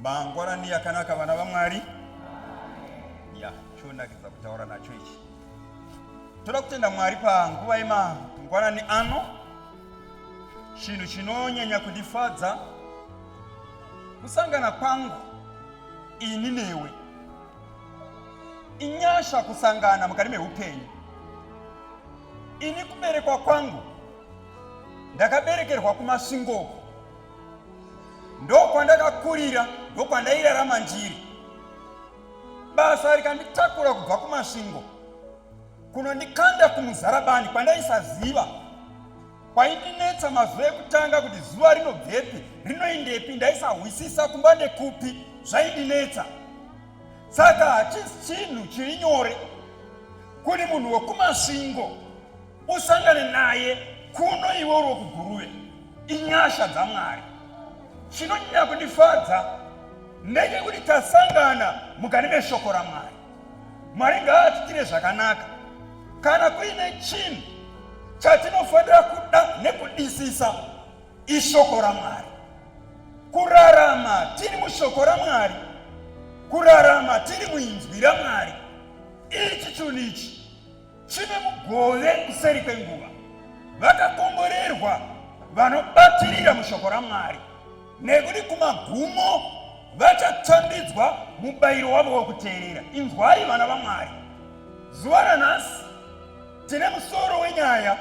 Mangwanani yakanaka vana vaMwari. Ya, chonakidza kutaura nacho ichi. Toda kutenda Mwari panguva yemangwanani ano. Chinhu chinonyanya kundifadza kusangana kwangu ini newe. Inyasha kusangana mukati meupenyu. Ini kuberekwa kwangu ndakaberekerwa kuMasvingo. ndokwandakakurira ndokwandairarama ndiri basa rikanditakura kubva kumasvingo kunondikanda kumuzarabani kwandaisaziva kwaindinetsa mazuva ekutanga kuti zuva rinobvepi rinoindepi ndaisahwisisa kumba ndekupi zvaindinetsa saka hachisi chinhu chiri nyore kuri munhu wekumasvingo usangane naye kuno iwe uri wekuguruve inyasha dzamwari chinonyanya kundifadza ndechekuti tasangana mukati meshoko ramwari mwari ngaatitire zvakanaka kana kuine chinhu chatinofanira kuda nekudisisa ishoko ramwari kurarama tiri mushoko ramwari kurarama tiri muinzwi ramwari ichi chinhu ichi Chine mugove kuseri kwenguva, vakakomborerwa vanobatirira mushoko raMwari, nekuti kumagumo vachatambidzwa mubayiro wavo wekuteerera. Inzwai vana vaMwari, zuva ranhasi tine musoro wenyaya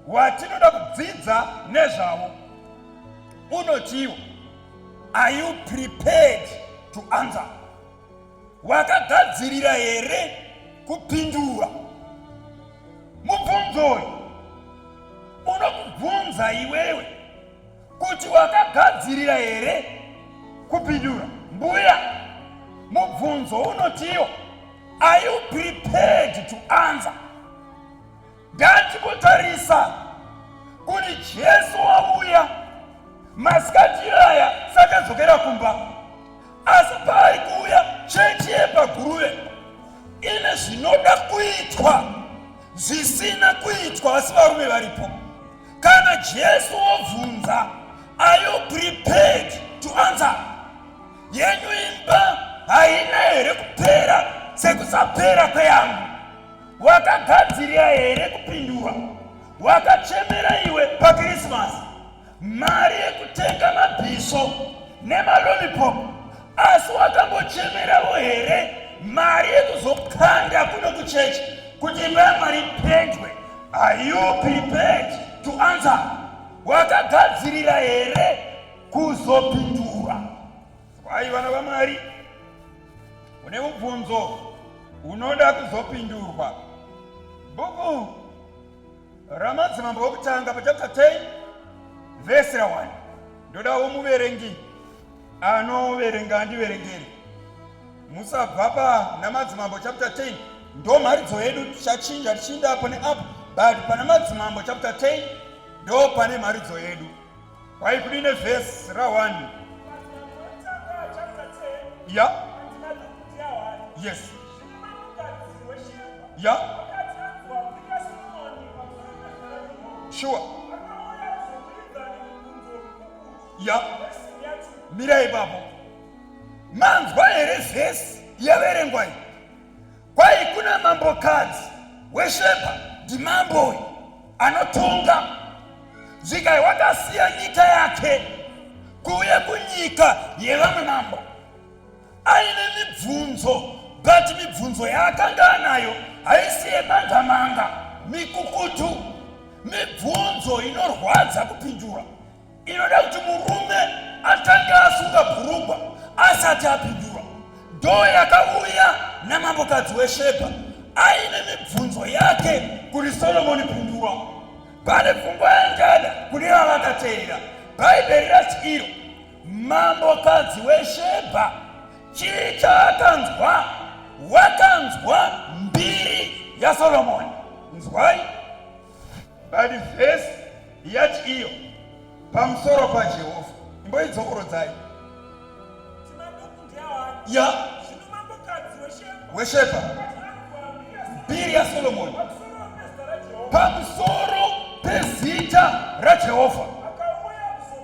watinoda kudzidza nezvavo unotiwo are you prepared to answer Wakagadzirira here kupindura mubvunzo uyu? Unokubvunza iwewe kuti wakagadzirira here kupindura. Mbuya, mubvunzo unotiwo, are you prepared to answer? Ngatingotarisa kuti Jesu wauya masikati aya sakadzokera kumba, asi paari kuuya chechi yepaGuruve ine zvinoda kuitwa zvisina kuitwa asi varume varipo. Kana Jesu wobvunza, are you prepared to answer? Yenyu imba haina here kupera sekusapera kweyangu? wakagadzirira here kupindura wakachemera iwe pakrisimasi mari yekutenga mabhiso nemalolipop asi wakambochemeravo here mari yekuzokanda kuno kuchechi kuti imba mwari ipendwe are you prepared to answer wakagadzirira here kuzopindura Zivai vana vaMwari, une mubvunzo unoda kuzopindurwa. Bhuku ramadzimambo okutanga pachapta 10 vhesi ra 1 ndodawo muverengi anoverenga andiverengere musabva pa namadzimambo chapter 10 ndo mharidzo yedu tichachinja tichinda apo neapo but pana madzimambo chapter 10 ndo pane mharidzo yedu Why could in a verse Rawan? Yeah. Yes. Yeah. Sure. Yeah. Mirai babo. Manzwa here verse yaverengwa iyi? Kwai kuna mambokadzi wesheba ndimambo uyu anotonga zvika wakasiya nyika yake kuuya kunyika yevamwe mambo aine mibvunzo but mibvunzo yaakanga anayo haisi yemangamanga mikukutu mibvunzo inorwadza kupindura inoda kuti murume atange asunga bhurugwa asati apindura ndoo yakauya namambokadzi weshebha aine mibvunzo yake kuri solomoni pindura pane pfungwa yangada kune vavakateerera bhaibheri rati iro mambokadzi weshebha chii chaakanzwa wakanzwa mbiri yasolomoni nzwai Bali vhesi yati iyo pamusoro paJehovha imboidzokorodzai ya wesheba mbiri yaSolomoni pamusoro pezita raJehovha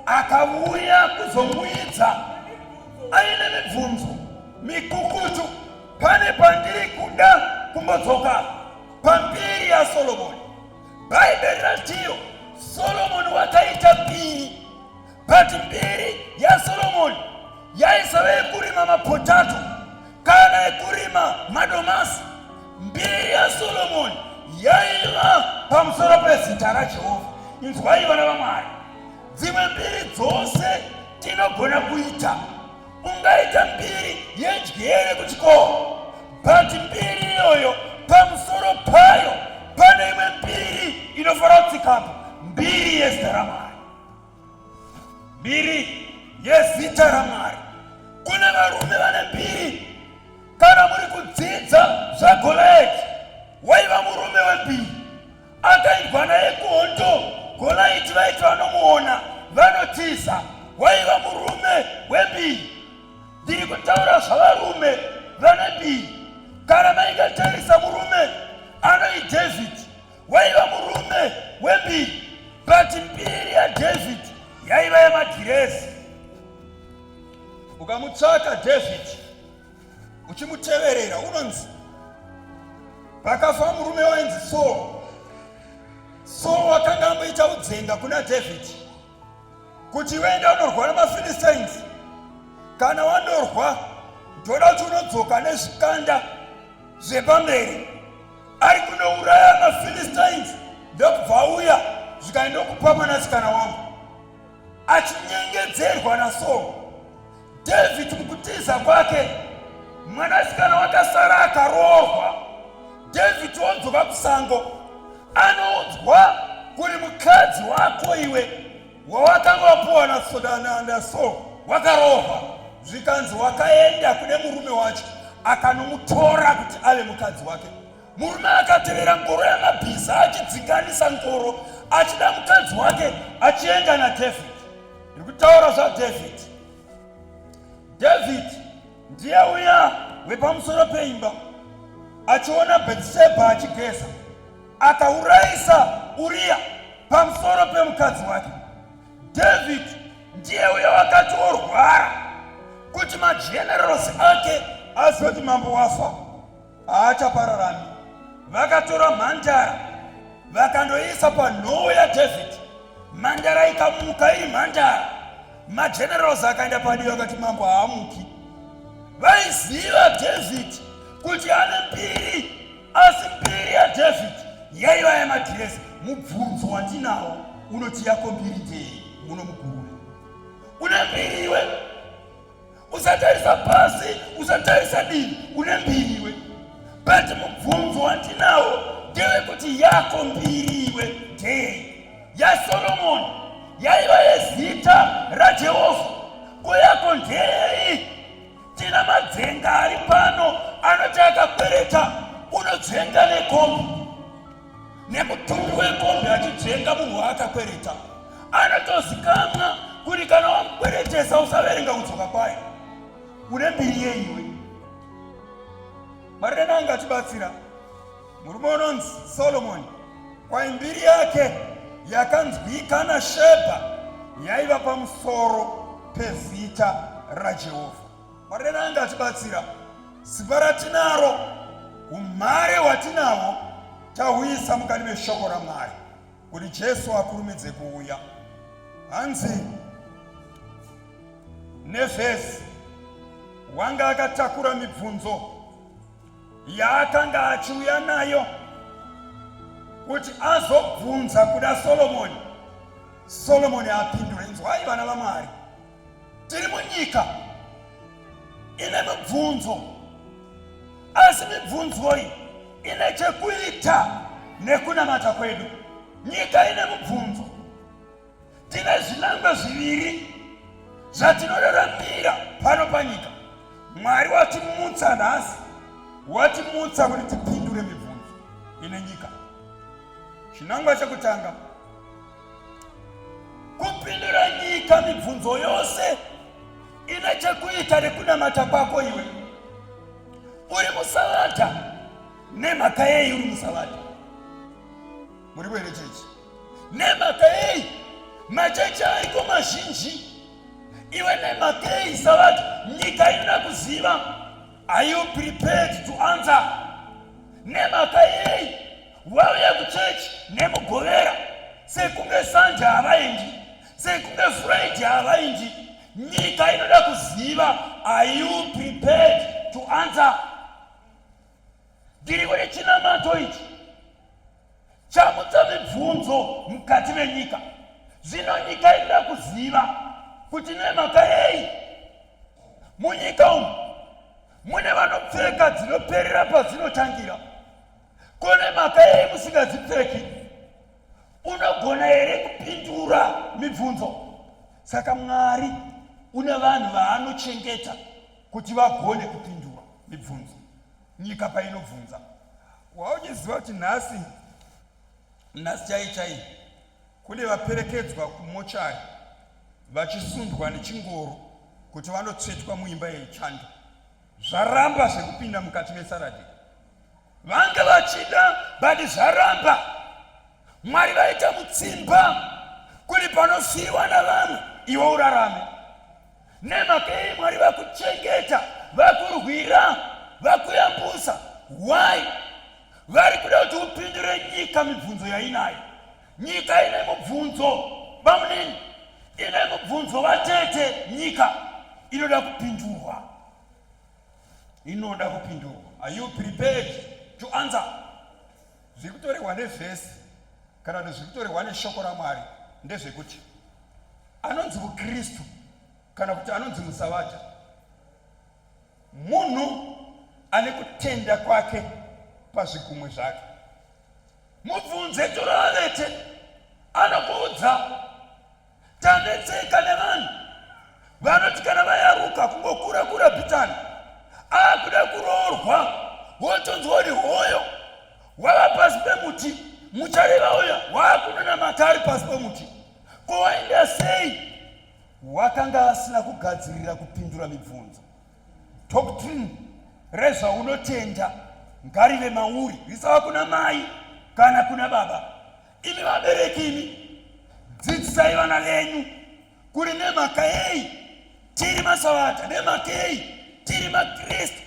akauya kuzomuidza aine mibvunzo mikukutu pane pandiri kuda kumbodzoka Pamberi ya Solomoni, Bhaibheri ratiyo Solomoni wakaita mbiri, but mbiri ya Solomoni yaisava yekurima mapotato kana yekurima madomasi. Mbiri ya Solomoni yaiva pamusoro pezita raJehovha. Inzwai vana vaMwari, dzimwe mbiri dzose tinogona kuita ungaita mbiri yedyere kuchikoro but mbiri iyoyo pamusoro payo pane imwe mbiri inofanira kutsikapo mbiri yezita ramwari mbiri yezita ramwari kune varume vane mbiri kana muri kudzidza zvagolaeti waiva murume wembiri Akaibwa naye kuhondo Golaiti vaiti vanomuona vanotiza waiva murume webii ndiri kutaura zvavarume vane bii kana maingatarisa murume anoi david waiva murume webii but mbiri yadavid yaiva yemagirezi ukamutsvaka david uchimuteverera unonzi pakafa murume wainzi saul saul wakanga amboita udzenga kuna dhavhidhi kuti uende unorwa nemaphilistines kana wanorwa ndoda kuti unodzoka nezvikanda zvepamberi ari kunouraya maphilistines ndokubva auya zvikaenda kupa mwanasikana wangu achinyengedzerwa nasaul David mukutiza kwake mwanasikana wakasara akaroorwa david wodzoka kusango anoudzwa kuri mukadzi wako iwe wawakanga wapuwa nasodananda so wakaroorwa zvikanzi wakaenda kune murume wacho akanomutora kuti ave mukadzi wake Murume akatevera ngoro yamabhiza achidzinganisa ngoro achida mukadzi wake achienda naDavid. Ndiri kutaura zvaDavid. David ndiye uya wepamusoro peimba achiona Bhetishebha achigeza akaurayisa Uriya pamusoro pemukadzi wake. David ndiye uya wakati orwara kuti majenerals ake azoti mambo wafa. haachapararami. Vakatora mhandara vakandoiisa panhowo yaDhavhidhi, mhandara ikamuka iri mhandara. Majenerals akaenda padivi vakati mambo haamuki. Vaiziva Dhavhidhi kuti ane mbiri, asi mbiri yaDhavhidhi yaiva yamadhirezi. Mubvunzo wandinawo unoti yako mbiri ndei? Muno mugurure une mbiri iwe usatarisa pasi usatarisa divi une mbiri iwe but mubvunzo wandinawo ndewekuti yako mbiri iwe ndei yasolomoni yaiva yezita rajehovha ko yako ndei tina madzenga ari pano anoti akakwereta unodzenga nekombi nemutumbi wekombi achijenga munhu waakakwereta anotozikamwa kuti kana wamukweretesa usaverenga kudzoka kwayo une mbiri yeiwe marire nange achibatsira murume unonzi solomoni kwai mbiri yake yakanzwika nashebha yaiva pamusoro pezita rajehovha Mwari redu anenge atibatsira. Simba ratinaro, umhare hwatinahwo tahuisa mukati meshoko raMwari kuti Jesu akurumidze kuuya. Hanzi Nefesi wanga akatakura mibvunzo yaakanga achiuya nayo kuti azobvunza kuda Solomoni, Solomoni apindure. Inzwai vana vaMwari. tiri munyika ine mibvunzo asi mibvunzoi ine chekuita nekunamata kwedu nyika ine mibvunzo tine zvinangwa zviviri zvatinoraramira pano panyika mwari watimutsa nhasi watimutsa kuti tipindure mibvunzo ine nyika chinangwa chekutanga kupindura nyika mibvunzo yose ine chekuita rekunamata kwako iwe uri musavata nemhaka yei uri musavata muri kuere chechi nemhaka yei machechi aiko mazhinji iwe nemhaka yei savata nyika inoda kuziva are you prepared to answer nemhaka yei vauya kuchechi nemugovera sekunge sanje havaindi sekunge frendi havaindi nyika inoda kuziva are you prepared to answer ndiri kune chinamato ichi chamutsa mibvunzo mukati menyika zvino nyika inoda kuziva kuti nemhaka yei munyika umu mune vanopfeka dzinoperera padzinotangira Kune mhaka yei musingadzipfeki? Unogona here kupindura mibvunzo? Saka Mwari une vanhu vaanochengeta kuti vagone kupindura mibvunzo nyika painobvunza. Wauchiziva kuti nhasi nhasi chai chai kune vaperekedzwa kumochari vachisundwa nechingoro kuti vanotsvetwa muimba yechando zvaramba zvekupinda mukati mesaradhi vanga vachida but zvaramba mwari vaita mutsimba kuti panosiyiwa navamwe iwe urarame nemakei mwari vakuchengeta vakurwira vakuyambusa why vari kuda kuti upindure nyika mibvunzo yainayo nyika ine mubvunzo bamunini ine mubvunzo vatete nyika inoda kupindurwa inoda kupindurwa are you prepared to answer zviri kutorehwa nevhesi kana kuti zviri kutorehwa neshoko ramwari ndezvekuti anonzi mukristu kana kuti anonzi musavata munhu ane kutenda kwake pazvigumwe zvake mubvunze turavete anokuudza Tanetseka nevanhu vanoti kana vayaruka kungokura kura bhitani akuda kuroorwa wotonzwa uri hoyo wava pasi pemuti muchareva uya waakunona maka ari pasi pemuti ko wainda sei wakanga asina kugadzirira kupindura mibvunzo doctrine rezvaunotenda ngarive mauri risava kuna mai kana kuna baba Imi vabereki imi, dzidzisai vana venyu kuri nemhaka yei tiri masavata, nemhaka yei tiri makristu,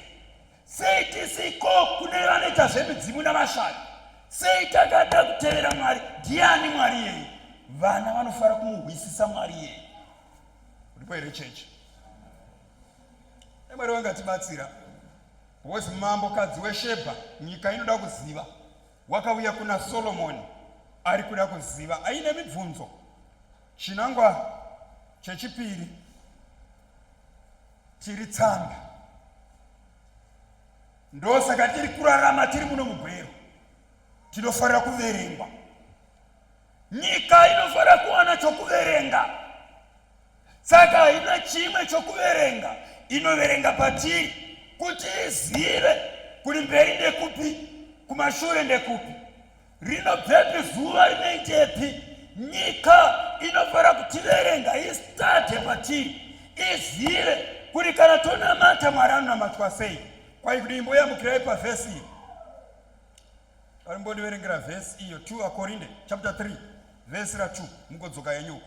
sei tisiko kune vanoita zvemidzimu navashandi, sei takada kutevera Mwari, ndiani Mwari yei? Vana vanofara kumuhwisisa Mwari yei. Ndipo here chechi? Mwari wangatibatsira. Wozi mambo kadzi weshebha nyika inoda kuziva wakauya kuna Solomoni ari kuda kuziva aine mibvunzo. Chinangwa chechipiri tiri tsamba, ndosaka tiri kurarama tiri muno mugwero, tinofanira kuverengwa. Nyika inofanira kuwana chokuverenga. saka haina chimwe chokuverenga inoverenga patiri kuti izive kuri mberi ndekupi kumashure ndekupi rinobvepi zuva rinoitepi nyika inofanira kutiverenga istate patiri izive kuri kana tonamata mwari anonamatwa sei kwai kudii mboyambukirai pavhesi iyo ari mbondiverengera vhesi iyo 2 akorinde chapter 3 vhesi ra 2 mugodzoka yenyuko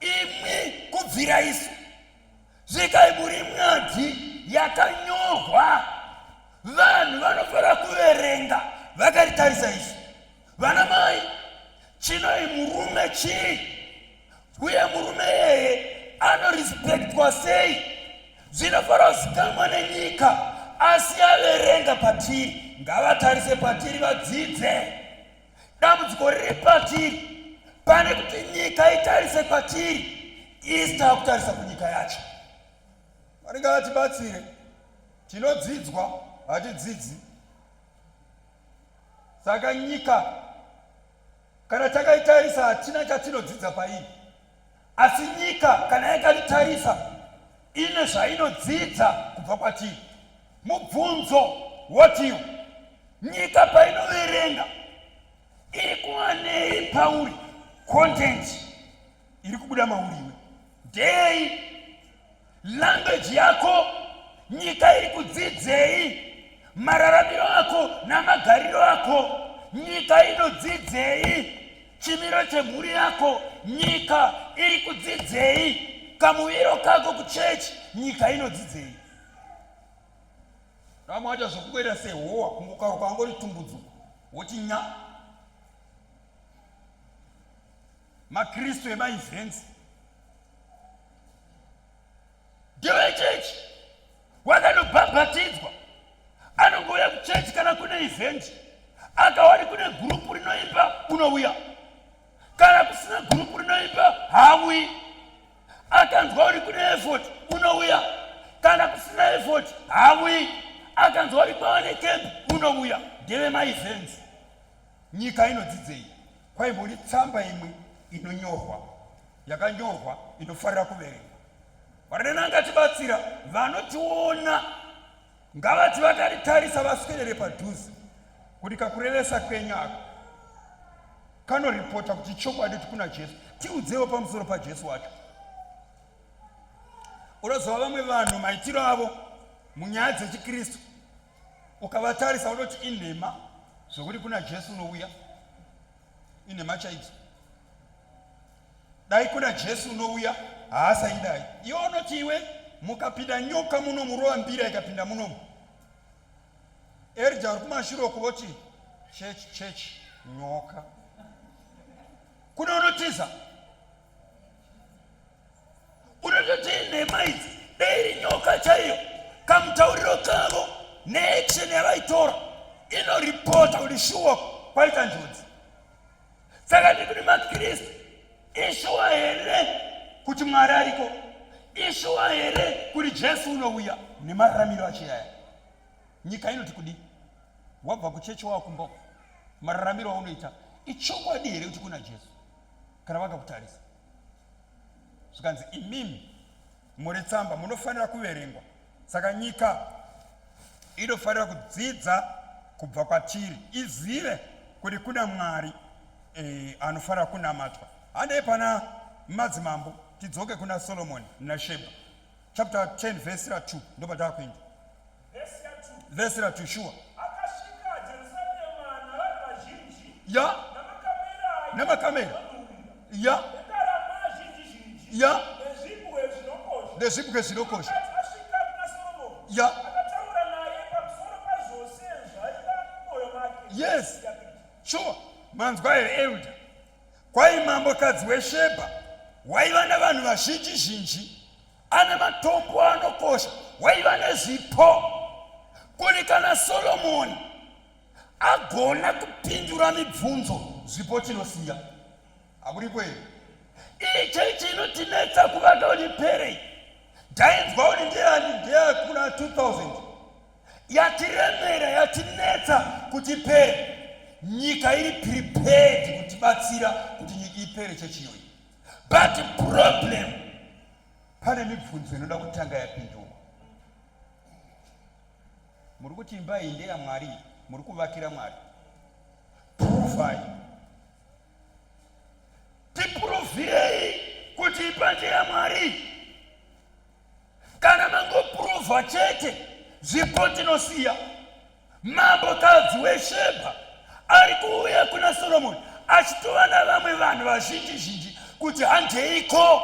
imwi kubvira isu zvikai muri mwadzi yakanyorwa vanhu vanofanira kuverenga vakaritarisa isu vana mai chinoi murume chii uye murume yeye anorespektwa sei zvinofanira kuzikamwa nenyika asi averenga patiri ngavatarise patiri vadzidze dambudziko riri patiri pane kuti nyika itarise kwatiri isi taakutarisa kunyika yacho vanenge vatibatsire tinodzidzwa hatidzidzi saka nyika kana takaitarisa hatina chatinodzidza paii Asi nyika kana yakatitarisa ine zvainodzidza kubva kwatiri. Mubvunzo wotiu, nyika painoverenga iri kuwanei pauri? Content iri kubuda mauri iwe ndei? language yako nyika iri kudzidzei mararamiro ako namagariro ako nyika inodzidzei chimiro chemhuri yako nyika iri kudzidzei kamuviro kako kuchechi nyika inodzidzei vamwe vaita zvokukwera sehowa kungokaruka angori tumbudzo wochinya makristu emaevents ndevechechi wakanobhabhatidzwa anongouya kuchechi kana kune eventi akawari kune gurupu rinoimba unouya kana kusina gurupu rinoimba hauyi akanzwa uri kune efot unouya kana kusina efot hauyi akanzwa uri kwawane kembi unouya ndeve maevents Nyika inodzidzei? Kwaimbori tsamba imwe inonyorwa yakanyorwa inofarira kuverengwa. Varenana ngatibatsira vanotiona ngavati vakaritarisa vaswedere padhuze kuti kakurevesa kwenyu ako kanoripota kuti chokwadi kuti kuna jesu tiudzewo pamusoro pajesu wacho unozova vamwe vanhu maitiro avo munyaya dzechikristu ukavatarisa unoti inhema zvokuti kuna jesu unouya inhema chaidzo dai kuna jesu unouya haasaidai iwe unoti iwe mukapinda nyoka muno murova mbira ikapinda munomu erja uri kumashure uku voti chechi chechi nyoka kune unotiza unototi nhema idzi dei iri nyoka chaiyo kamutauriro kavo neaction yavaitora inoripota kuti shuwa kwaita njodzi saka ndikuti makristu ishuwa here kuti mwari ariko ishuwa here kuti jesu unouya nemararamiro achiyaya nyika inoti kudii wabva kuchechi wawakumboko mararamiro aunoita ichokwadi here kuti kuna jesu kana vakakutarisa zvikanzi imimi muri tsamba munofanira kuverengwa saka nyika inofanira kudzidza kubva kwatiri izive kuti kuna mwari e, anofanira kunamatwa handei pana madzimambo tidzoke kuna solomoni nasheba chapter 10 vhesi ra 2 ndopatava kuenda vhesi ra tushuwa ya nemakamera ya ya nezvibwe zvinokosha ya yes sure manzwa here elder kwai mambokadzi weshebha waiva nevanhu vazhinji zhinji ane matombo anokosha waiva nezvipo kuri kana solomoni agona kupindura mibvunzo zvipo chinosiya hakuriko here iyi chechi inotinetsa kuvaka uri perei ndainzwa uri ndeyani ndeyakuna 2000 yatiremera yatinetsa kuti pere nyika iri prepared kutibatsira kuti nyika ipere chechiyoyi but problem pane mibvunzo inoda kutanga yapindurwa muri kuti imba iyi ndeyamwari muri kuvakira mwari puruvai tipuruvirei kuti imba ndeyamwari kana mangopuruvha chete zvipo tinosiya Mambokadzi weShebha ari kuuya kuna Soromoni achitova navamwe vanhu vazhinji zhinji kuti handeiko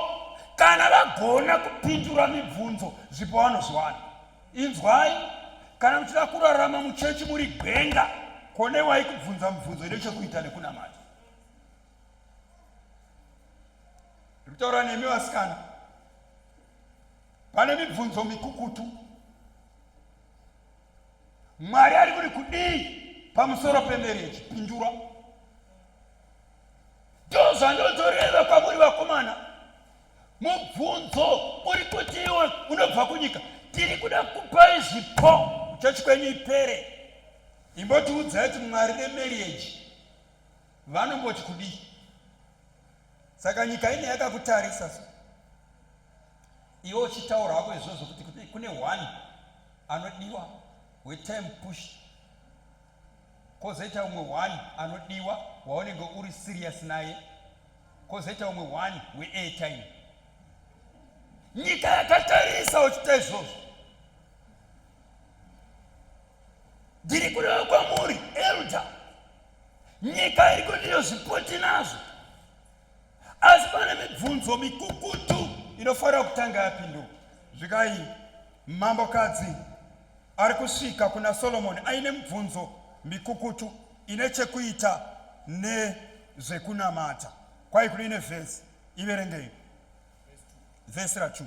kana vagona kupindura mibvunzo zvipo vanozviwana. Inzwai, kana muchida kurarama muchechi muri gwenga, konewai kubvunza mibvunzo ine chekuita nekunamata. kutaura nemi vasikana pane mibvunzo mikukutu mwari ari kuti kudii pamusoro pemereji pindura ndozvandotoreva kwamuri vakomana mubvunzo uri kuti iwe unobva kunyika tiri kuda kupai zvipo chochi kwenyu ipere imbotiudzai kuti mwari nemereji vanomboti kudii saka nyika ine yakakutarisa so iwe uchitaura hako izvozvo kuti kune one anodiwa wetime push kozoita umwe one anodiwa waunenge uri serious naye kozoita umwe one weairtime nyika yakatarisa uchiita izvozvo ndiri kureva kwamuri elda nyika iri kundiyozvipoti nazvo Asi pane mibvunzo mikukutu inofanira kutanga yapindurwa. Zvikai mambokadzi ari kusvika kuna Solomoni aine mibvunzo mikukutu ine chekuita nezvekunamata. Kwai kune ine vhesi, iverengei vhesi rachu.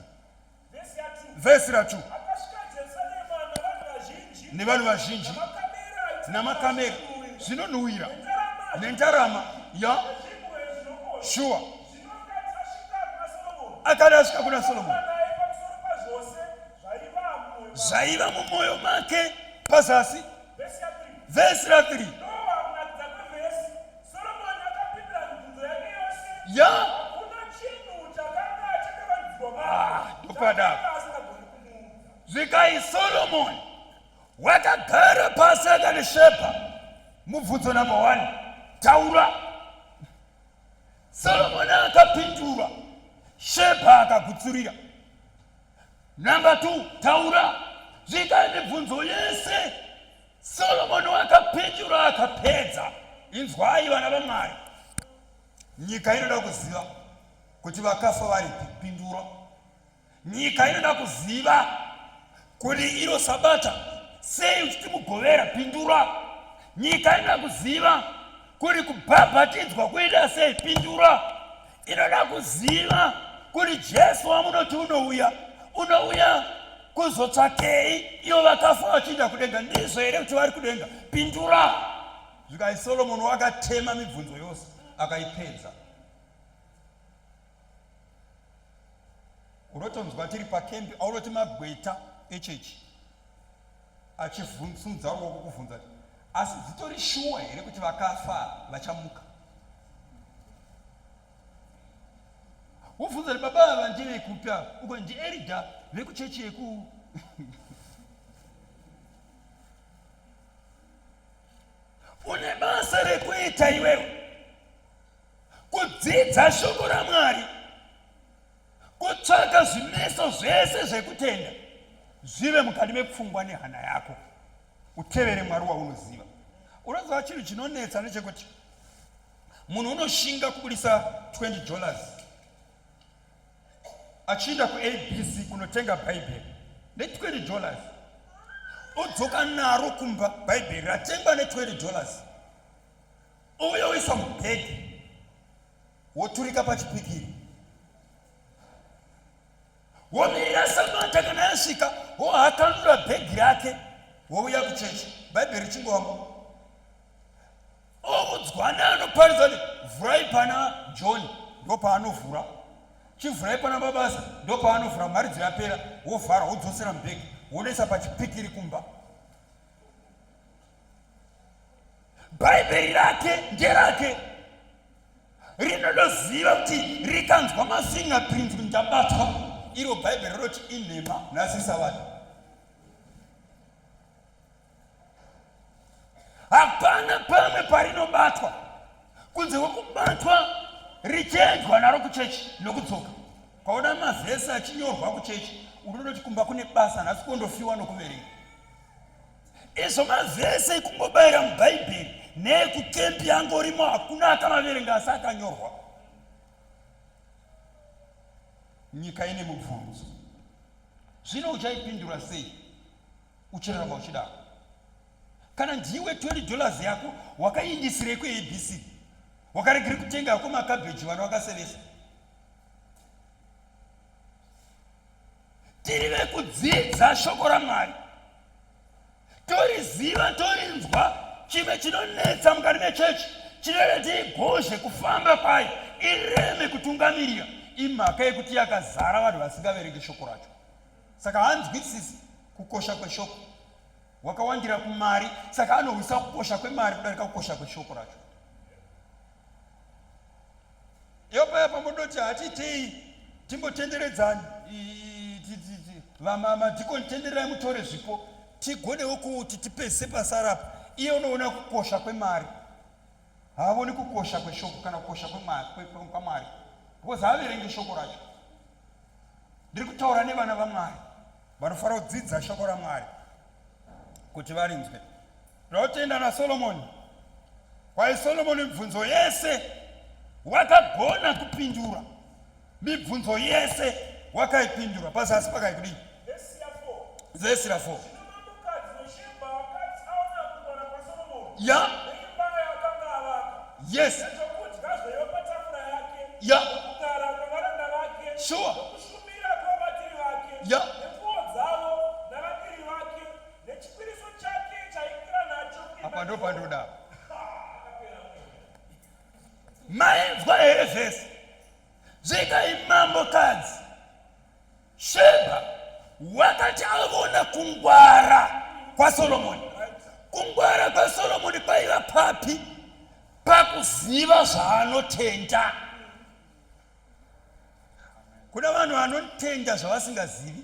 vhesi ra 2 nevanhu vazhinji namakamera zvinonhuwira nendarama ya shuwa akati asvika kuna solomoni zvaiva mumwoyo make pazasi vhesi ra 3 ya ndopada zvikai solomoni wakagara pasi akanishepa mubvunzo number one taura solomoni akapindura shepa akagutsurira number two taura zvikai mibvunzo yese Solomoni wakapindura akapedza, inzwai vana vaMwari, nyika inoda kuziva kuti vakafa vari kupindura. Nyika inoda kuziva kuti iro sabata sei uchiti mugovera pindura. Nyika inoda kuziva kuti kubhabhatidzwa kuita sei pindura. inoda kuziva kuti jesu wamunoti unouya unouya kuzotsvakei ivo vakafa vachiinda kudenga ndizvo here kuti vari kudenga pindura zvikai solomoni wakatema mibvunzo yose akaipedza unotonzwa tiri pakembi aunoti magweta echechi achivhunzumudza ruoko kuvhunza kuti asi dzitori shuwa here kuti vakafa vachamuka wobvunza kuti baba ava ndevekupi ava uko ndierida vekuchechi yeku une basa rekuita iwewe kudzidza shoko ramwari kutsvaka zvimeso zvese zvekutenda zvive mukati mepfungwa nehana yako utevere mwari waunoziva unoziva chinhu chinonetsa nechekuti munhu unoshinga kubudisa 20 dollars achienda kuabc kunotenga bhaibheri ne20 dollars odzoka naro kumba bhaibheri ratengwa ne20 dollars ouya oisa mubhedhi woturika pachipikiri womirira sabata kana yasvika wohakanura bhegi rake wouya kuchechi bhaibheri richingowamba oudzwana anoparidza kuti vhurai pana john ndopaanovhura chivhurai pana babasa ndopaanovhura mari dziyapera wovhara wodzosera mubhegi wonoisa pachipikiri kumba bhaibheri rake nderake rinodoziva kuti rikanzwa mafingerprint kuti ndabatwa iro bhaibheri rinoti inhema nhasi savati hapana pamwe parinobatwa kunze kwekubatwa richiendwa naro kuchechi nokudzoka kwaona mavhesi achinyorwa kuchechi unonoti kumba kune basa nhasi kondofiwa nokuverenga Ezvo mavhese ekungobayira muBhaibheri neekukempi angorimo hakuna akamaverenga asi akanyorwa. Nyika ine mubvunzo. Zvino uchaipindura sei? Uchirarama uchidaro. Kana ndiwe 20 dollars yako wakaindisirei kuABC? Wakaregere kutenga hako makabheji vana wakasevesa. tiri vekudzidza shoko ramwari toriziva torinzwa chimwe chinonetsa mukati mechechi chinereti igozhe kufamba kwayo ireme kutungamirira imhaka yekuti yakazara vanhu vasingaverenge shoko racho saka hanzwisisi kukosha kweshoko wakawandira kumari saka anohwisa kukosha kwemari kudarika kukosha kweshoko racho yopaya pamodoti hatiitei timbotenderedzani vamama dikoni tendererai mutore zvipo tigonewo kuti tipese pasarapa iye unoona kukosha kwemari haavoni kukosha kweshoko kana kukosha kwamwari because haaverenge shoko racho Ndiri kutaura nevana vaMwari vanofanira kudzidza shoko raMwari kuti varinzwe. Tinotenda naSolomoni. Kwaye Solomoni mibvunzo yese wakagona kupindura mibvunzo yese wakaipindura pazasi pakaikudii Verse 4. Yeah. Yes. Yeah. Sure. Yeah. Apa ndo pandoda. Maimvwa here vhesi zvikaimambo kadzi Sheba wakati avona kungwara kwaSolomoni. Kungwara kwaSolomoni kwaiva papi? Pakuziva zvaanotenda. Kuna vanhu vanotenda zvavasingazivi.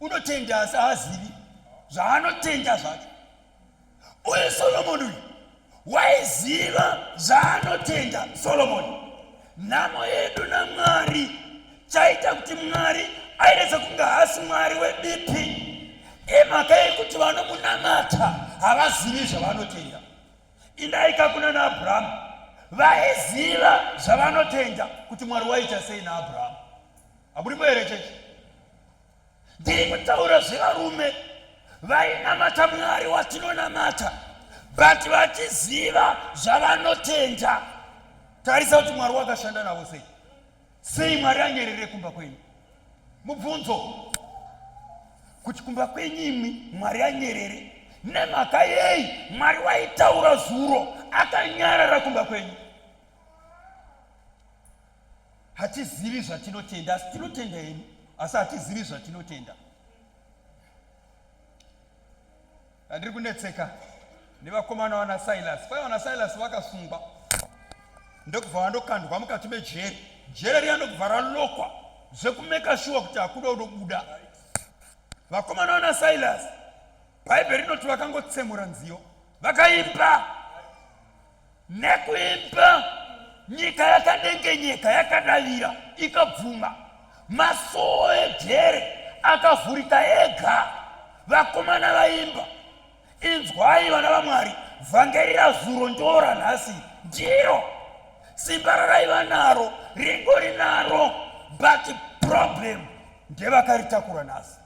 Unotenda asi haazivi zvaanotenda zvacho. uyu solomoni uyu waiziva zvaanotenda solomoni nhamo yedu namwari chaita kuti mwari aireza kunge haasi mwari webipi imhaka yekuti vanomunamata havazivi zvavanotenda indaika kuna naabrahamu vaiziva zvavanotenda kuti mwari waita sei naabrahamu haburimo here chechi ndiri kutaura zvevarume vainamata mwari watinonamata but vachiziva zvavanotenda tarisa kuti mwari wakashanda navo sei sei mwari anyerere kumba kwenyu mubvunzo kuti kumba kwenyu imwi mwari anyerere nemhaka yei mwari waitaura zuro akanyarara kumba kwenyu hatizivi zvatinotenda asi tinotenda hedu asi hatizivi zvatinotenda andiri kunetseka nevakomana vana silas kwai vana silas vakasungwa ndokubva vandokandwa mukati mejeri jeri riya ndokubva ralokwa zvekumeka shuwa kuti hakuda unobuda vakomana vana silas bhaibheri rinoti vakangotsemura nziyo vakaimba nekuimba nyika yakadengenyeka yakadavira ikabvuma masoo ejere akavhurika ega vakomana vaimba inzwai vana vamwari vhangeri razuro ndoora nhasi ndiro simba raraiva naro ringo rinaro but problem ndevakaritakura nhasi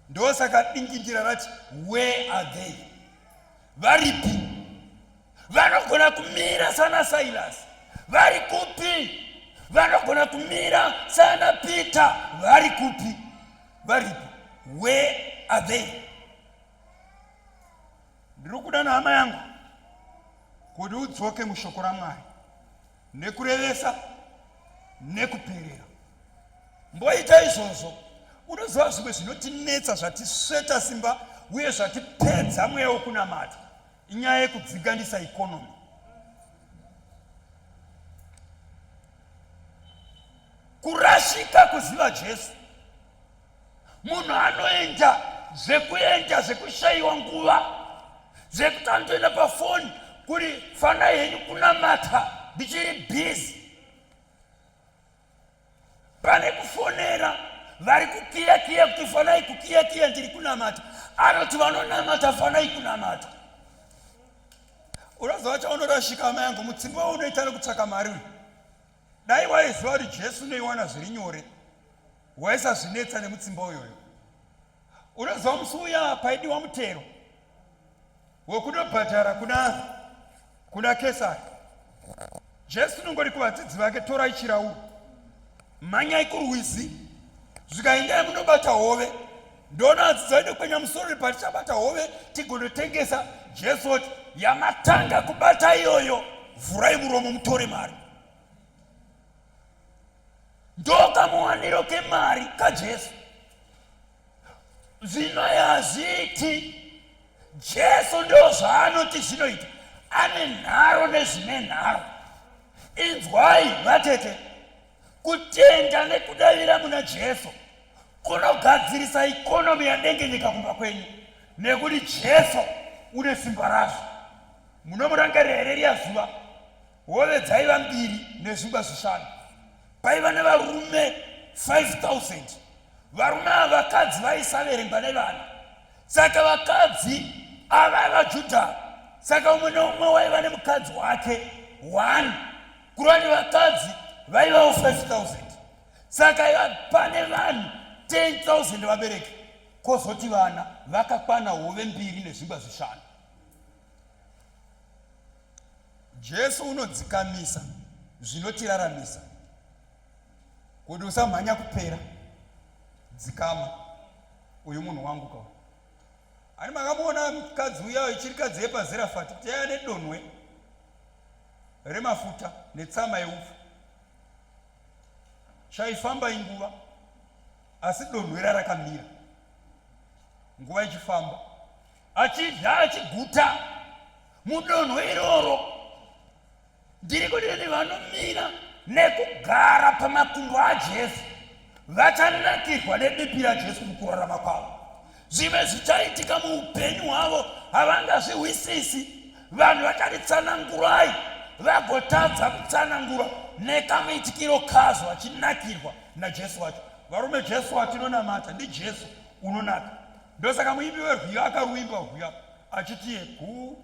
ndosaka dingindira rati where are they varipi vanogona kumira sana silas vari kupi vanogona kumira sana peter vari kupi varipi where are they ndiri kuda nehama yangu kuti udzoke mushoko ramwari nekurevesa nekuperera mboita izvozvo unoziva zvimwe zvinotinetsa zvatisveta simba uye zvatipedza mweya wekunamata inyaya yekudziganisa ikonomi kurashika kuziva jesu munhu anoenda zvekuenda zvekushayiwa nguva zvekuti anotoenda pafoni kuri fanai henyu kunamata ndichiri bhizi pane kufonera vari kukiya kiya kuti fanai kukiya kiya ndiri kunamata anoti vanonamata fanai kunamata unoziva chaunorashika amai yangu mutsimba waunoita nekutsvaka mari uyu Dai waiziva kuti Jesu unoiwana zviri nyore, waisazvinetsa nemutsimba uyoyo. Unoziva musi uya paidiwa mutero wekunobhadhara kuna kuna Kesari, Jesu unongori kuvadzidzi vake, torai chirauro, mhanyai kurwizi, zvikaendai munobata hove Ndona azizaide kwenya musoro patichabata hove tigonotengesa Jesu oti yamatanga kubata iyoyo vhurai muromo mutore mari ndokamuwaniro kemari kajesu zvino yazviti jesu ndo zvaanoti zvinoita ane nharo nezvine nharo inzwai vatete Kutenda nekudavira muna Jesu kunogadzirisa ikonomi yanenge nyika kumba kwenyu nekuti Jesu une simba razvo. Munomurangarira here riya zuva hove dzaiva mbiri nezvingwa zvishanu paiva nevarume 5000 varume ava vakadzi vaisaverengwa nevana saka vakadzi ava vajudha saka umwe neumwe waiva nemukadzi wake one kurwa nevakadzi vaivawo 5000 saka pane vanhu 10000 vabereki kozoti vana vakakwana hove mbiri nezvingwa zvishanu jesu unodzikamisa zvinotiraramisa kuti usamhanya kupera dzikama uyu munhu wangu kawo ani makamuona mukadzi uya ichirikadzi yepazirafati kuti yaya nedonwe remafuta netsama yeupfu chaifamba inguva asi donhwera rakamira nguva ichifamba achidya achiguta mudonho iroro ndiri kuti vene vanomira nekugara pamakumbo ajesu vachanakirwa nebipi rajesu mukurarama kwavo zvimwe zvichaitika muupenyu hwavo havangazvihwisisi vanhu vakatitsanangurai vagotadza kutsanangura nekamuitikiro kazo vachinakirwa najesu wacho varume jesu watinonamata ndijesu unonaka ndosaka muimbi werwiyo akaruimba rwiya achitiye guu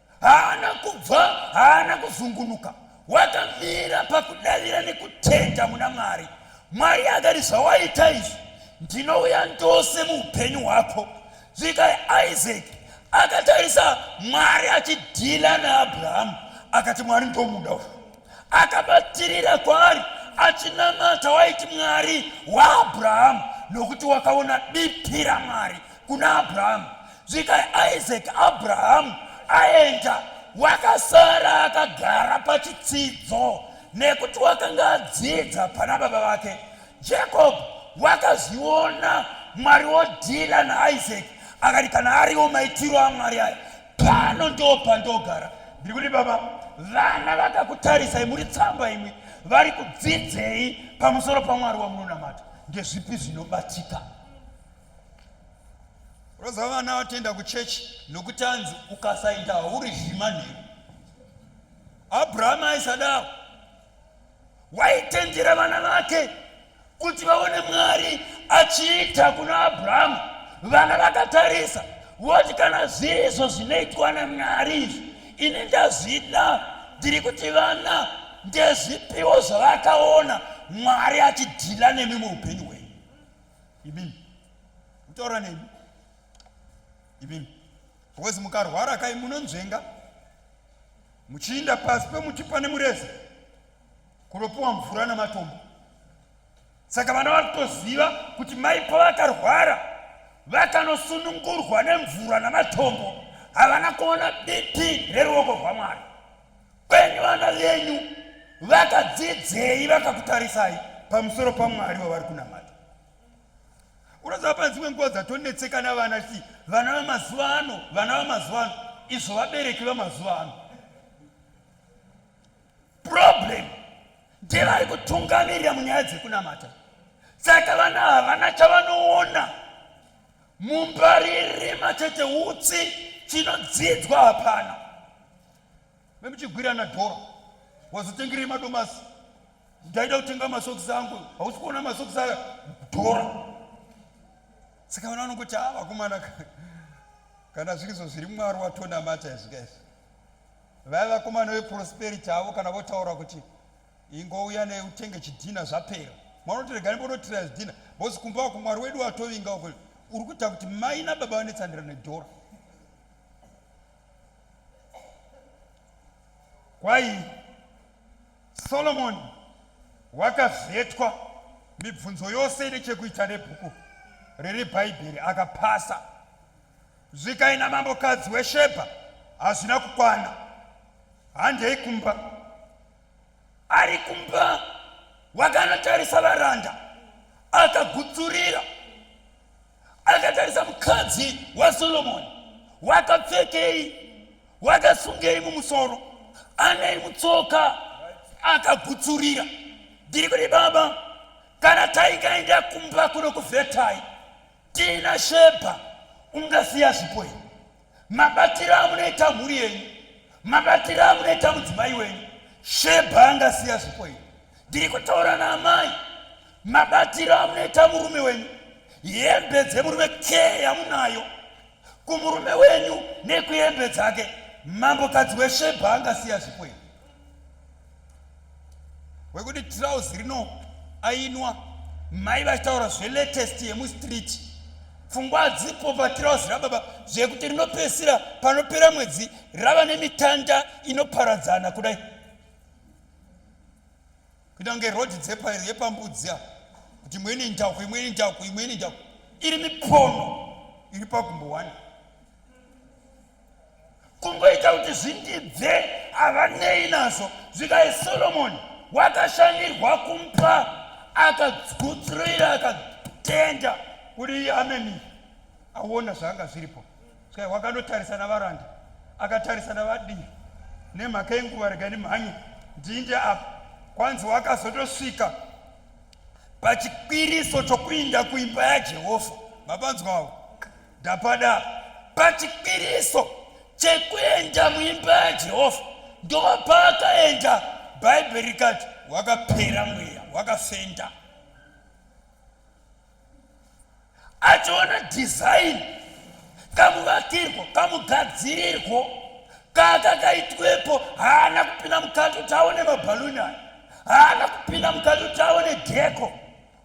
haana kubva haana kuzungunuka wakamira pakudavira nekutenda muna mwari mwari akati zvawaita izvi ndinouya ndose muupenyu hwako zvikai isaki akatarisa mwari achidhila naabrahamu akati mwari ndomuda uyu akabatirira kwaari achinamata waiti mwari waabrahamu nokuti wakaona bipi ramwari kuna abrahamu Svika Isaac Abraham aenda, wakasara akagara pachitsidzo nekuti wakanga adzidza pana baba vake. Jacob wakazviona Mwari wodhila naIsaac akati kana ariwo maitiro aMwari aya pano ndo pandogara. Ndiri kuti baba vana vakakutarisai muri tsamba imwe vari kudzidzei pamusoro pamwari wamunonamata ndezvipi zvinobatika roza vana vatoenda kuchechi nokuti anzi ukasaita hauri zvima nheru abrahama aisadaro waitendera vana vake kuti vaone mwari achiita kuna abrahama vana vakatarisa voti kana zvirizvo zvinoitwa namwari izvi ini ndazvida ndiri kuti vana ndezvipiwo zvavakaona mwari achidhila nemi muupenyu Ibim. Mtaura nini? Ibim. Because mukarwara kai munonzvenga muchiinda pasi pemuti pane mureza kunopiwa mvura namatombo saka vana vari kutoziva kuti mai pavakarwara vakanosunungurwa nemvura namatombo havana kuona bipi reruoko rwamwari kwenyu vana venyu vakadzidzei vakakutarisai pamusoro pamwari wavari kunamata unoziva pane dzimwe nguva dzatonetseka navana chii vana vamazuva ano vana vamazuva ano izvo vabereki vamazuva ano problem ndevari kutungamirira munyaya dzekunamata saka vana havana chavanoona mumbaririma chete utsi chinodzidzwa hapana memuchigwirana dhora wazotengerei madomasi ndaida kutenga masokisi angu hausi kuona masokisi aya dhora saka vana vanongoti a vakomana kana zvirizo zviri mwari watonamata izvi ka izvi vaya vakomana veprosperity avo kana votaura kuti ingouya neutenge chidhina zvapera mwana unotoregani bonotira zidhina bhozi kumba wako mwari wedu watovinga uko uri kuita kuti mai nababa vanetsandirana nedhora Kwai Solomoni wakavhetwa mibvunzo yose ine chekuita nebhuku riri bhaibheri akapasa zvikai namambokadzi weshebha hazvina kukwana handei kumba ari kumba wakanotarisa varanda akagutsurira akatarisa mukadzi wasolomoni wakapfekei wakasungei mumusoro anei mutsoka akagutsurira ndiri kuti baba kana taikaenda kumba kuno kuvhetai tiina shebha ungasiya zvipo here mabatiro amunoita mhuri yenyu mabatiro amunoita mudzimai wenyu shebha angasiya zvipo iyi ndiri kutaura naamai mabatiro amunoita murume wenyu hembe dzemurume ke yamunayo kumurume wenyu nekuhembe dzake mambokadzi weshebha angasiya zvipo iyi wekuti trouse rino ainwa mai vachitaura zvelatest yemustreet pfungwa dzipo patrouse rababa zvekuti rinopesira panopera mwedzi rava nemitanda inoparadzana kudai kuita kunge rod dzepambudzi a kuti imweni njauko imweni njauko imweni njauko iri mipono iri pagumbo wani kungoita kuti zvindibve havanei nazvo zvikai solomoni wakashandirwa kumpa akagutsuroira akatenda kuti iye ameni aona zvaanga zviripo saka wakanotarisa navaranda akatarisa navadii nemhaka yenguva rega nemhanye ndinde apa kwanzi wakazotosvika pachikwiriso chokuinda kuimba yajehovha mapanzwawo ndapada pachipiriso chekuenda muimba yajehovha ndova paakaenda bhaibheri rikati wakapera mweya wakafenda achiona dhizaini kamuvakirwo kamugadzirirwo kakakaitwepo haana kupinda mukati kuti aone mabhaluni aya haana kupinda mukati kuti aone dheko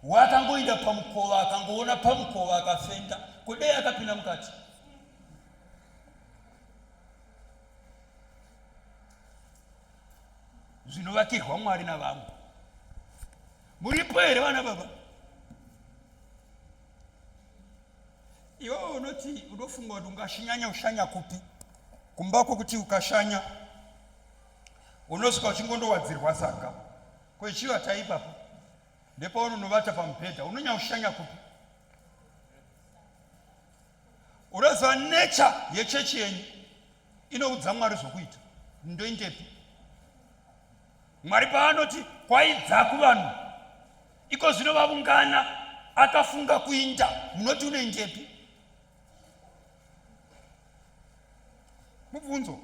waakangoinda pamukova akangoona pamukova akafenda kudei akapinda mukati zvinovakirwa mwari navamwe muripo here vana baba iwe unoti unofunga kuti ungashinyanya ushanya kupi kumba kwokuti ukashanya unosvika uchingondowadzirwa saka kwechiva taipapo ndepaunonovata pamubhedha unonyaushanya kupi unoziva nature yechechi yenyu inoudza mwari zvokuita ndoindepi mwari paanoti kwaidza kuvanhu iko zvino vavungana akafunga kuinda munoti unoindepi mubvunzo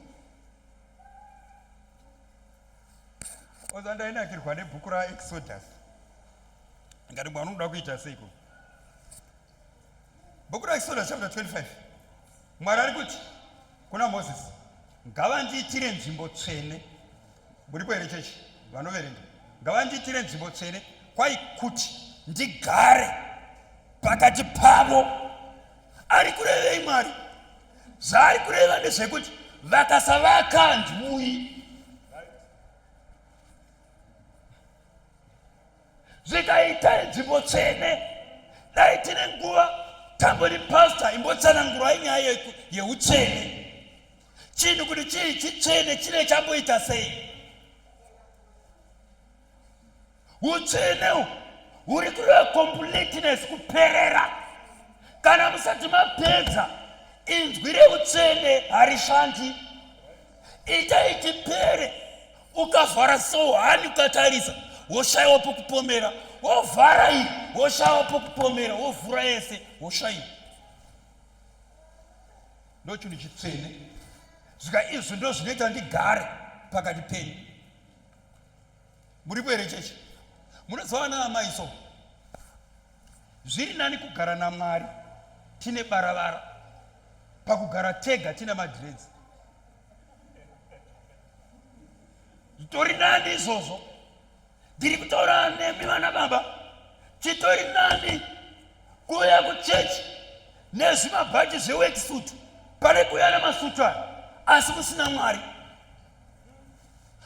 oza ndainakirwa nebhuku raexodus ngati mwana unoda kuita seiko bhuku raexodus chapter 25 mwari ari kuti kuna moses ngavandiitire nzvimbo tsvene muripo here chechi vanoverenga ngavandiitire nzvimbo tsvene kwai kuti ndigare pakati pavo ari kurevei mwari zvaari kureva ndezvekuti vakasavaka handiuyi zvikaita nzvimbo tsvene dai tine nguva tambori pasta imbotsanangurai nyaya yeutsvene chinhu kuti chii chitsvene chine chamboita sei utsvene huri kureva completeness kuperera kana musati mapedza inzwi reutsvene harishandi itai tipere ukavhara sohani ukatarisa woshaiwa pokupomera wovhara iyi woshaiwa pokupomera wovhura yese woshaiwa ndochinhu chitsvene zvika izvi ndo zvinoita ndigare pakati penyu muripo here chechi munoziva ana amai so zviri nani kugara namwari tine baravara pakugara tega tine madredzi zvitori nani izvozvo ndiri kutaura nemi vana baba chitori nani kuuya kuchechi nezvimabhachi zvewekisutu pane kuuya namasutu aya asi musina mwari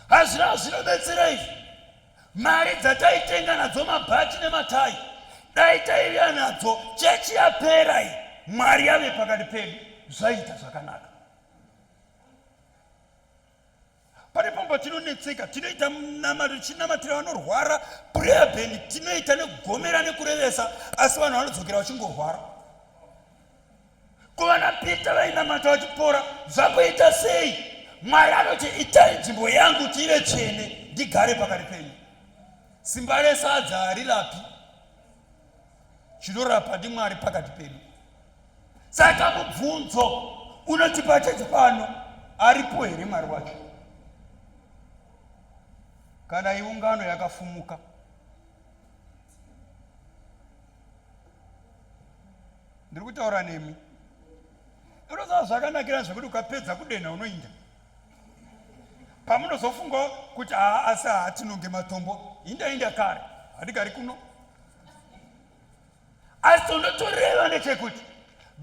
hazvina zvinobetsera izvi mari dzataitenga nadzo mabhachi nematai dai taiviya nadzo chechi yapera iyi mwari yave pakati pedu zvaita zvakanaka pane pamba tinonetseka tinoita munamato tichinamatira vanorwara prayer band tinoita nekugomera nekurevesa asi vanhu vanodzokera vachingorwara kuvana pita vainamata vachipora zvakuita sei mwari anoti itai nzvimbo yangu kuti ive tsvene ndigare pakati penyu simba resadza harirapi chinorapa ndimwari pakati pedu saka mubvunzo unotipa chete pano aripo here mwari wacho kana iungano yakafumuka ndiri kutaura nemi unoziva zvakanakira zvekuti ukapedza kudenha unoinda pamunozofunga kuti haa asi hatinonge matombo indainda kare hadigari kuno asi unotoreva nechekuti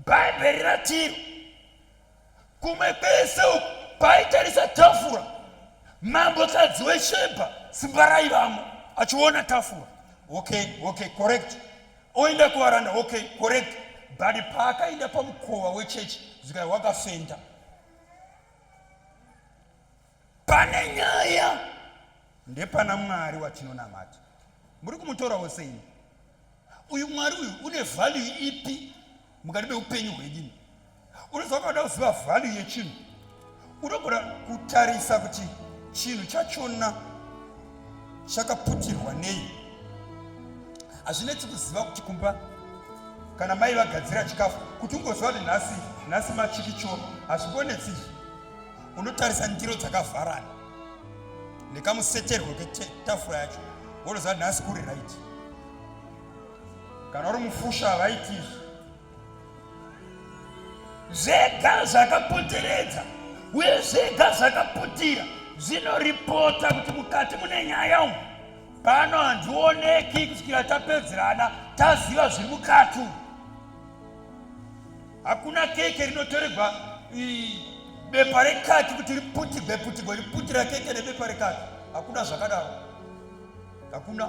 bhaibheri ratiri kumwe kwese uku paitarisa tafura mambokadzi weshebha simba raivamo achiona tafura okay okay correct oenda kuvaranda okay correct but paakaenda pamukova wechechi zvikai wakafenda pane nyaya ndepana mwari watinonamata muri kumutorawo sei uyu mwari uyu une value ipi mukati meupenyu hwenyini unoziva kuda kuziva value yechinhu unogona kutarisa kuti chinhu chachona chakaputirwa nei hazvinetsi kuziva kuti kumba kana mai vagadzira chikafu kuti ungoziva kuti nhasi nhasi machikichoro hazvikonetsi izvi unotarisa ndiro dzakavharana nekamuseterwo ketafura yacho wonoziva nhasi kuri right kana uri mufusha havaiti izvi zvega zvakapoteredza uye zvega zvakaputira zvinoripota kuti mukati mune nyaya umu pano handioneki kusvikira tapedzerana taziva zviri mukati umu Hakuna keke rinotoregwa bepa rekaki kuti riputigwe putigwe riputira keke nebepa rekaki. Hakuna zvakadaro. Hakuna.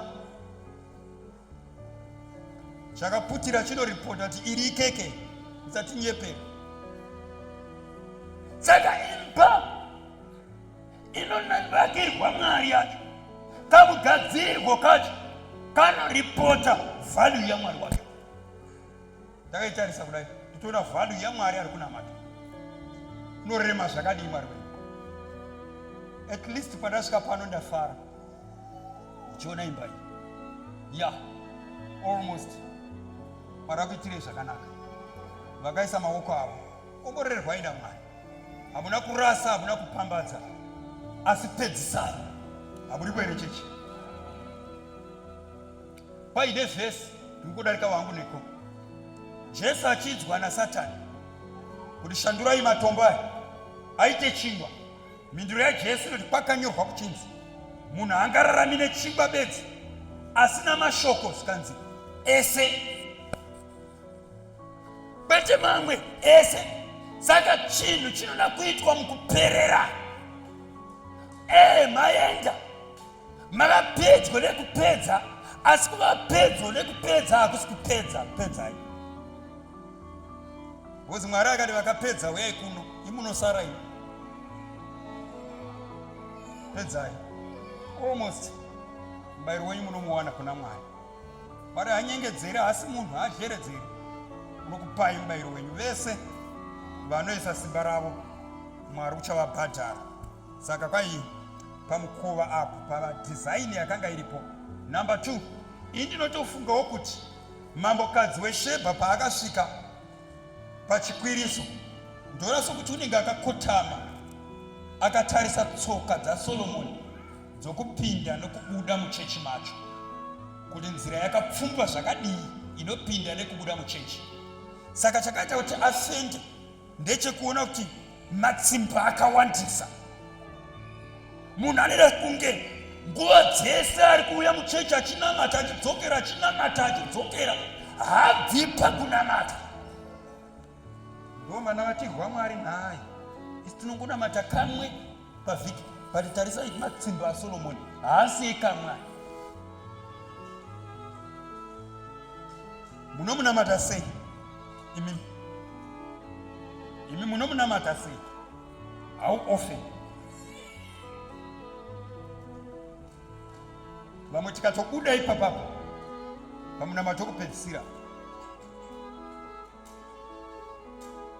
Chakaputira chinoripota kuti iri ikeke. Usatinyepe. Saka imba inonakirwa mwari yacho kakugadzirirwo kacho kanoripota vhalyu yamwari wacho ndakaitarisa kudai nditoona vhadu yamwari ari kunamata norema zvakadii mwari wedu at least pandasvika pano ndafara ndichiona imba iyi ya almost mwari akuitirei zvakanaka vakaisa maoko avo komborerwai namwari hamuna kurasa hamuna kupambadza asi pedzisai hamuri kuerechechi kwaide vhesi riri kudarika wangu neko jesu achinzwa nasatani kuti shandurai matombo aya aite chingwa mhinduro yajesu inoti kwakanyorwa kuchinzi munhu angararami nechingwa bedzi asina mashoko zvikanzi ese kwete mamwe ese saka chinhu chinoda kuitwa mukuperera ee maenda mava pedyo nekupedza asi kuva pedyo nekupedza hakusi kupedza pedzai bcause mwari akati vakapedza uyai kuno imunosara ino pedzai almost mubairo wenyu munomuwana kuna mwari mwari hanyengedzeri haasi munhu haazheredzeri unokupai mubairo wenyu vese vanoisa simba ravo mwari uchavabhadhara Saka kwai pamukova apo pava design yakanga iripo. Number two, ini ndinotofungawo kuti mambokadzi weshebha paakasvika pachikwiriso ndoona sokuti unenge akakotama akatarisa tsoka dzasolomoni dzokupinda nokubuda muchechi macho kuti nzira yakapfumbwa zvakadii inopinda nekubuda muchechi saka chakaita kuti afende ndechekuona kuti matsimba akawandisa munhu anoita kunge nguva dzese ari kuuya muchechi achinamata achidzokera achinamata achidzokera habvi pakunamata ndomana vatirwa mwari nhai isi tinongonamata kamwe pavhiki but tarisai matsimba asolomoni haasi ekamwana munomunamata sei imi imi munomunamata sei hau ofe vamwe tikatobuda ipapapa pamunamato kupedzisira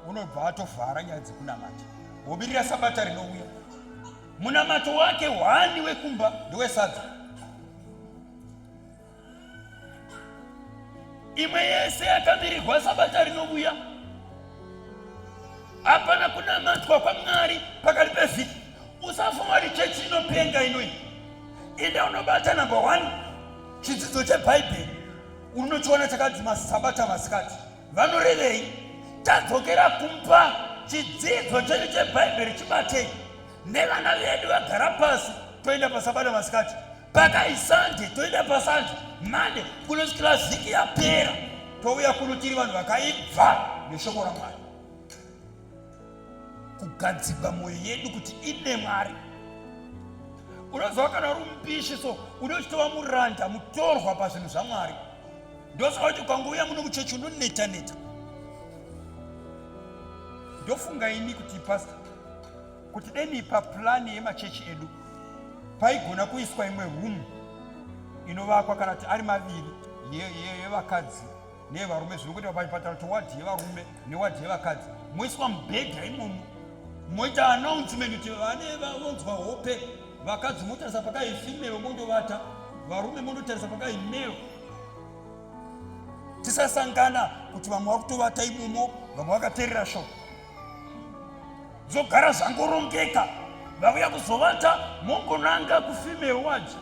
unobva atovhara nyaya dzekunamata wobirira sabata rinouya munamato wake hwani wekumba ndewesadza imwe yese yakamirirwa sabata rinouya hapana kunamatwa kwamwari pakati pevhiki usafunga kuti chechi inopenga inoi enda unobata number one chidzidzo chebhaibheri unochiona chakadzima sabata masikati vanorevei tadzokera kumba chidzidzo chedu chebhaibheri chibatei nevana vedu vagara pasi toenda pasabata masikati pakaisande toenda pasande mande kunosvikira vhiki yapera touya kuno tiri vanhu vakaibva neshoko ramwari kugadzigwa mwoyo yedu kuti ine mwari unoziva kana uri mupishi so une uchitova muranda mutorwa pazvinhu zvamwari ndosaka kuti ukangouya muno muchechi unoneta neta ndofunga ini kuti pasta kuti deni papurani yemachechi edu paigona kuiswa imwe rumu inovakwa kana kuti ari maviri yevakadzi ye, ye, ye, nevarume zviri kuita pachipatara towadhi yevarume newadhi yevakadzi moiswa mubhedha imomo moita announcement kuti vane vonzwa hope vakadzi motarisa pakai female mondovata varume mondotarisa pakai male tisasangana kuti vamwe vakutovata imomo vamwe vakaterera sho zogara zvangorongeka vauya kuzovata mongonanga kufemale waji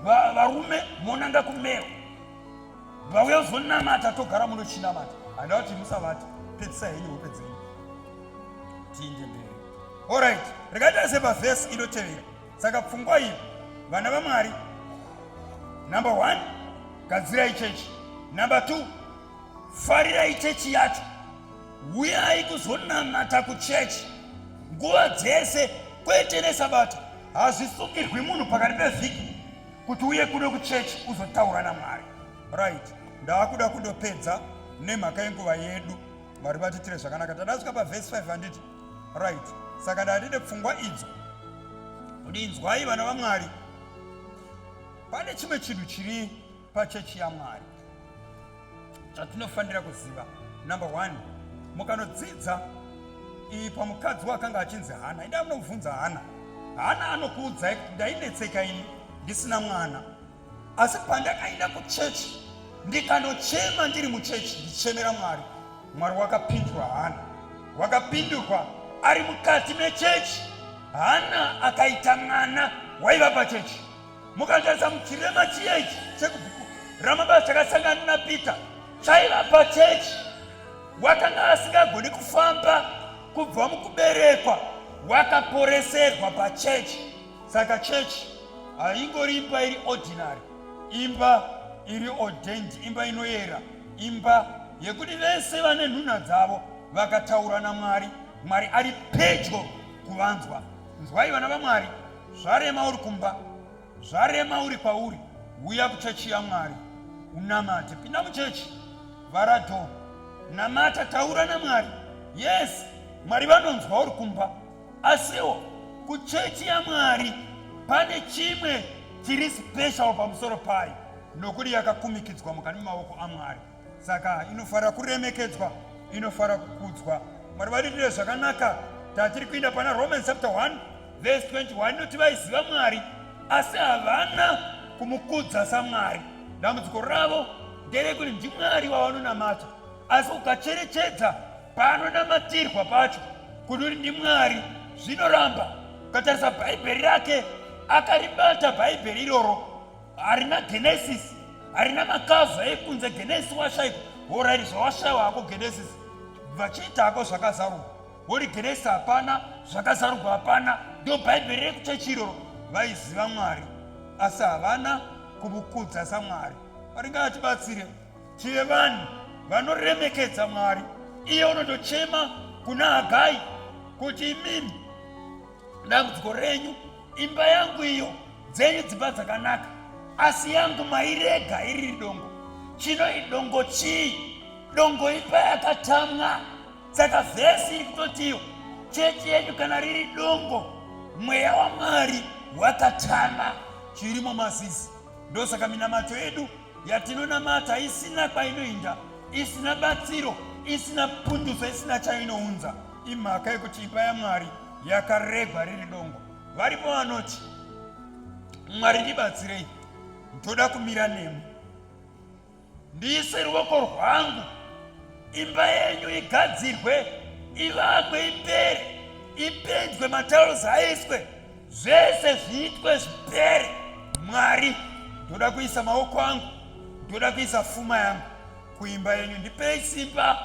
varume monanga kumale vauya kuzonamata togara muno chinamata handaa kuti musavati pedzisa henyu hope dzenyu tiinde mberi orit rikaita sepavhesi inotevera saka pfungwa iyi vana vamwari number one gadzirai chechi number two farirai chechi yacho uyai kuzonamata kuchechi nguva dzese kwete nesabata hazvisungirwi munhu pakati pevhiki kuti uye kuno kuchechi uzotaura namwari right ndaakuda kundopedza nemhaka yenguva yedu mwari vatitire zvakanaka tadasvika pavhesi 5 handiti right saka ndaatine pfungwa idzo kuti inzwai vana vamwari pane chimwe chinhu chiri pachechi yamwari chatinofanira kuziva number one mukanodzidza iyi pamukadzi wakanga achinzi hana ida munobvunza hana hana anokuudzai kuti ndainetseka ini ndisina mwana asi pandakaenda kuchechi ndikanochema ndiri muchechi ndichemera mwari mwari wakapindurwa hana wakapindurwa ari mukati mechechi hana akaita mwana waiva pachechi mukangarisa muchirema chiya ichi chekubhuku ramabasa chakasangana napeter chaiva pachechi wakanga asingagoni kufamba kubva mukuberekwa wakaporeserwa pachechi saka chechi haingori imba iri ordinary imba iri ordained imba inoyera imba yekuti vese vane nhunha dzavo vakataura namwari mwari ari pedyo kuvanzwa nzwai vana vamwari Zvarema uri kumba, zvarema uri kwauri, uya kuchechi yaMwari unamate. Pinda muchechi, vhara dho, namata, taura naMwari. Yes, Mwari vanonzwa uri kumba, asiwo kuchechi yaMwari pane chimwe chiri special pamusoro payo nokuti yakakumikidzwa mukati memaoko aMwari. saka inofanira kuremekedzwa inofanira kukudzwa mwari vadiitire zvakanaka tatiri kuenda pana romans chapter 1 verse 21 inoti vaiziva mwari asi havana kumukudza samwari dambudziko ravo nderekuti ndimwari wavanonamata asi ukacherechedza paanonamatirwa pacho kuti uri ndimwari zvinoramba ukatarisa bhaibheri rake akaribata bhaibheri iroro harina genesis harina makavha ekunze genesi washaikwa horairi zvawashaiwa hako genesis vachiita hako zvakazarurwa wori genesi hapana zvakazarurwa hapana ndo bhaibheri rekuchechi iroro vaiziva mwari asi havana kumukudza samwari mwari ngaatibatsire tive vanhu vanoremekedza mwari iye unotochema kuna hagai kuti imimi dambudziko renyu imba yangu iyo dzenyu dzimba dzakanaka asi yangu mairega iri dongo chino idongo chii dongo imba yakatamwa saka vhesi iri kutotiyo chechi yenyu kana riri dongo mweya wamwari wakatama chirimo mazizi ndosaka minamato yedu yatinonamata isina kwainoinda isina batsiro isina punduso isina chainounza imhaka yekuti imba yamwari yakaregwa riri dongo varipo vanoti mwari ndibatsirei ndoda kumira nemi ndiise ruoko rwangu imba yenyu igadzirwe ivakwe ipere ipendwe mataros aiswe zvese zviitwe zvipere mwari ndoda kuisa maoko angu ndoda kuisa fuma yangu kuimba yenyu ndipei simba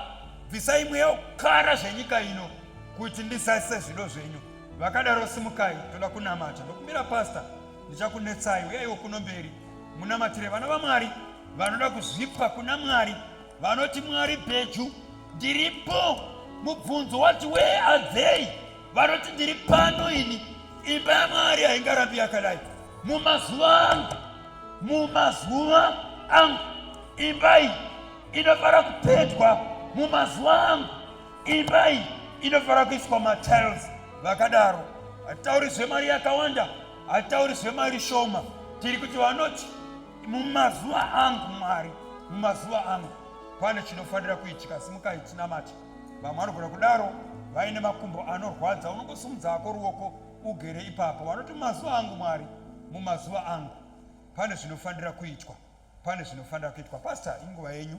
bvisai mweya wekukara zvenyika ino kuti ndizadzise zvido zvenyu vakadaro simukai ndoda kunamata ndokumira pasta ndichakunetsai uyaiwo kuno mberi munamatire vana vamwari vanoda kuzvipa kuna mwari vanoti mwari bheju ndiripo mubvunzo wati wee adzei vanoti ndiri pano ini imba yamwari haingarambi yakadai mumazuva angu mumazuva angu imba iyi inofara kupedwa mumazuva angu imba iyi inofara kuiswa matiles vakadaro hatitauri zvemari yakawanda hatitauri zvemari shoma tiri kuti vanoti mumazuva angu mwari mumazuva angu pane chinofanira kuitika simukai tinamati vamwe vanogona kudaro vaine makumbo anorwadza unongosumudza ako ruoko ugere ipapo vanoti mazuva angu mwari mumazuva angu pane zvinofanira kuitwa pane zvinofanira kuitwa pasta inguva yenyu